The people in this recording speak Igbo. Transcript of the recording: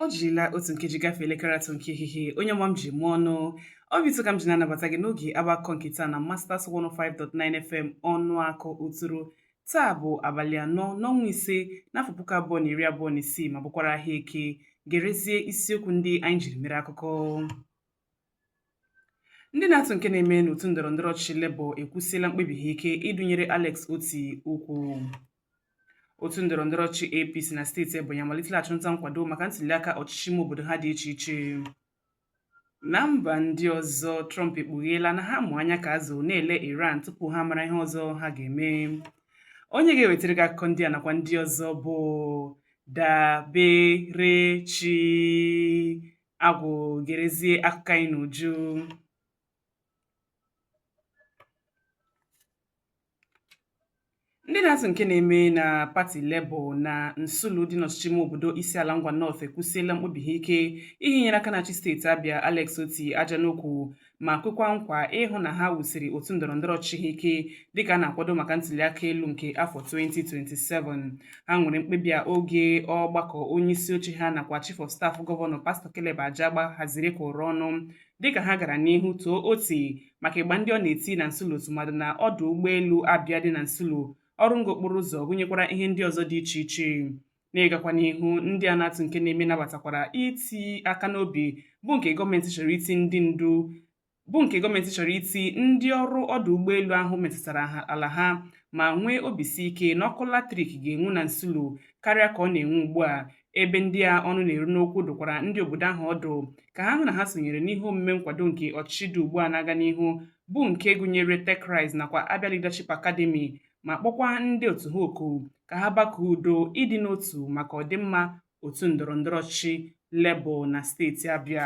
o jirila otu nkeji gafee elekere atọ nke ehihie onye ọma m ji eme ọnụ obi ụtọ ka m ji na-anabata gị n'oge agbakọ nke taa na Masters 105.9 FM Ọnụakụ Uturu taa bụ abalị anọ n'ọnwa ise n'afọ puku abụọ na iri abụọ na isii ma bụkwara ahịa eke gerezie isiokwu ndị anyị jiri mere akụkọ ndị na-atụ nke na-eme n'otu ndọrọ ndọrọ ọchịchị Labour ekwusiela mkpebi ha ike ịdụnyere Alex Otti ukwu otu ndọrọ ndọrọ ọchịchị APC na steeti Ebonyi amalitela achụmnta nkwado maka ntuliaka ọchịchị ime obodo ha dị iche iche na mba ndị ọzọ Trump ekpugheela na ha mụ anya ka azụ na-ele Iran tupu ha mara ihe ọzọ ha ga-eme onye ga-ewetara gị akụkọ ndị a nakwa ndị ọzọ bụ Daberechi Agwụ gerezie akụkọ anyị n'uju ndị na-atụ nke na-eme na pati Labour na Nsulu dị n'ọchịchị ime obodo Isiala Ngwa North ekwusiela mkpebi ha ike ihinyere aka na-achị steeti Abia Alex Otti aja n'ukwu ma kwekwa nkwa ịhụ na ha wusiri otu ndọrọ ndọrọ ọchịchị ha ike dịka a na-akwado maka ntuliaka elu nke afọ 2027 ha nwere mkpebi a oge ọgbakọ onye isi oche ha nakwa chief of staff gọvanọ pastọ Caleb Ajagba haziri kụrụ ọnụ dịka ha gara n'ihu too Otti maka ịgba ndị ọ na-eti na Nsulu tụmadụ na ọdụ ụgbọelu Abia dị na Nsulu ọrụ ngo okporo ụzọ gụnyekwara ihe ndị ọzọ dị iche iche N'ịgakwa n'ihu, ndị a na-atụ nke na-eme nabatakwara iti aka n'obi bụ nke gọọ ndị bụ nke gọọmenti chọrọ iti ndị ọrụ ọdụ ụgbọelu ahụ metụtara ala ha ma nwee obi si ike na ọkụ latrik ga-enwu na Nsulu karịa ka ọ na-enwu ugbu a ebe ndị a ọnụ na-eru n'okwu dụkwara ndị obodo ahụ ọdụ ka ha hụ na ha sonyere n'ihe omume nkwado nke ọchịchị dị ugbu a na-aga n'ihu bụ nke gụnyere TechRise nakwa Abia Leadership Academy ma kpọkwa ndị otu ha oku ka ha bakụọ udo ịdị n'otu maka ọdịmma otu ndọrọndọrọ ọchịchị Labour na steeti Abịa.